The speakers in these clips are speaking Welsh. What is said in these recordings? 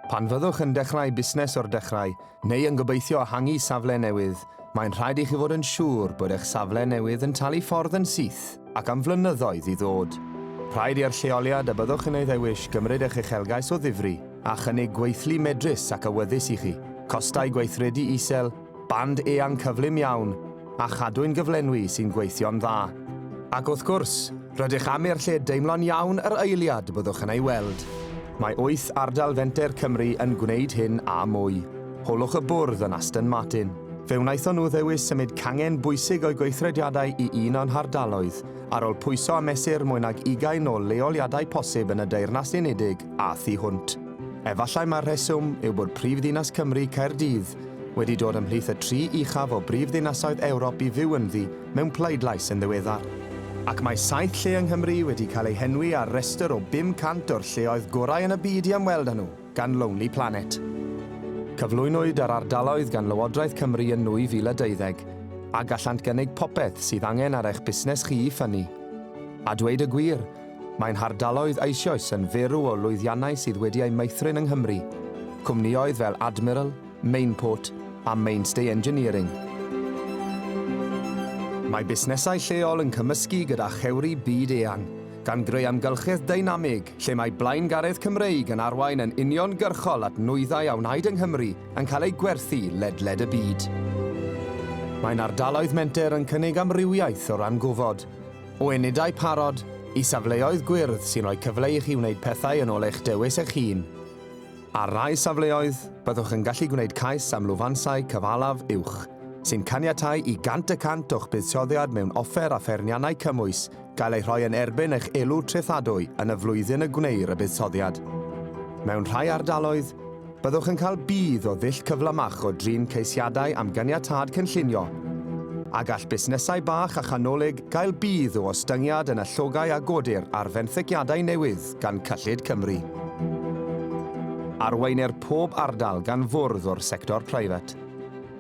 Pan fyddwch yn dechrau busnes o'r dechrau, neu yn gobeithio ehangu safle newydd, mae'n rhaid i chi fod yn siŵr bod eich safle newydd yn talu ffordd yn syth ac am flynyddoedd i ddod. Rhaid i'r lleoliad y byddwch yn ei ddewis gymryd eich uchelgais o ddifri a chynnig gweithlu medrus ac awyddus i chi, costau gweithredu isel, Band eang cyflym iawn, a Chadwyn gyflenwi sy'n gweithio'n dda. Ac wrth gwrs, rydych am i'r lle deimlo'n iawn yr eiliad byddwch yn ei weld. Mae wyth ardal fenter Cymru yn gwneud hyn a mwy. Holwch y bwrdd yn Aston Martin. Fe wnaethon nhw ddewis symud cangen bwysig o'u gweithrediadau i un o'n hardaloedd, ar ol pwyso a mesur mwy nag ugain o leoliadau posib yn y Deyrnas Unedig a thu hwnt. Efallai mai'r rheswm yw bod prif ddinas Cymru, Caerdydd, wedi dod ymhlith y tri uchaf o brifddinasoedd Ewrop i fyw ynddi mewn pleidlais yn ddiweddar. Ac mae saith lle yng Nghymru wedi cael eu henwi ar restr o 500 o'r lleoedd gorau yn y byd i ymweld â nhw gan Lonely Planet. Cyflwynwyd yr ardaloedd gan Lywodraeth Cymru yn 2012, a gallant gynnig popeth sydd angen ar eich busnes chi i ffynnu. A dweud y gwir, Mae'n hardaloedd eisioes yn ferw o lwyddiannau sydd wedi eu meithrin yng Nghymru, cwmnïoedd fel Admiral, Mainport a Mainstay Engineering. Mae busnesau lleol yn cymysgu gyda chewri byd eang, gan greu amgylchedd deinamig lle mae blaengaredd Cymreig yn arwain yn uniongyrchol at nwyddau a wnaed yng Nghymru yn cael eu gwerthu ledled y byd. Mae'n ardaloedd menter yn cynnig amrywiaeth o ran gofod, O unedau parod, i safleoedd gwyrdd sy'n rhoi cyfle i chi wneud pethau yn ôl eich dewis eich hun. Ar rai safleoedd, byddwch yn gallu gwneud cais am lwfansau cyfalaf uwch, sy'n caniatáu i 100 y cant o'ch buddsoddiad mewn offer a pherniannau cymwys gael eu rhoi yn erbyn eich elw trethadwy yn y flwyddyn y gwneir y buddsoddiad. Mewn rhai ardaloedd, Byddwch yn cael budd o ddull cyflymach o drin ceisiadau am ganiatâd cynllunio, a gall busnesau bach a chanolig gael budd o ostyngiad yn y llogau a godir ar fenthyciadau newydd gan Cyllid Cymru. Arweinir pob ardal gan fwrdd o'r sector preifat,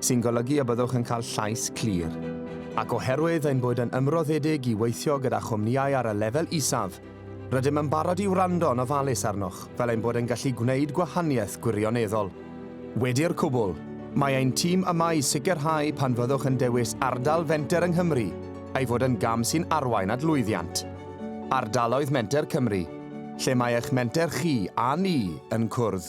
sy'n golygu y byddwch yn cael llais clir. Ac oherwydd ein bod yn ymroddedig i weithio gyda chwmnïau ar y lefel isaf, Rydym yn barod i wrando yn ofalus arnoch fel ein bod yn gallu gwneud gwahaniaeth gwirioneddol. Wedi'r cwbl, mae ein tîm yma i sicrhau pan fyddwch yn dewis ardal fenter yng Nghymru ei fod yn gam sy'n arwain at lwyddiant. Ardaloedd Menter Cymru, lle mae eich menter chi a ni yn cwrdd.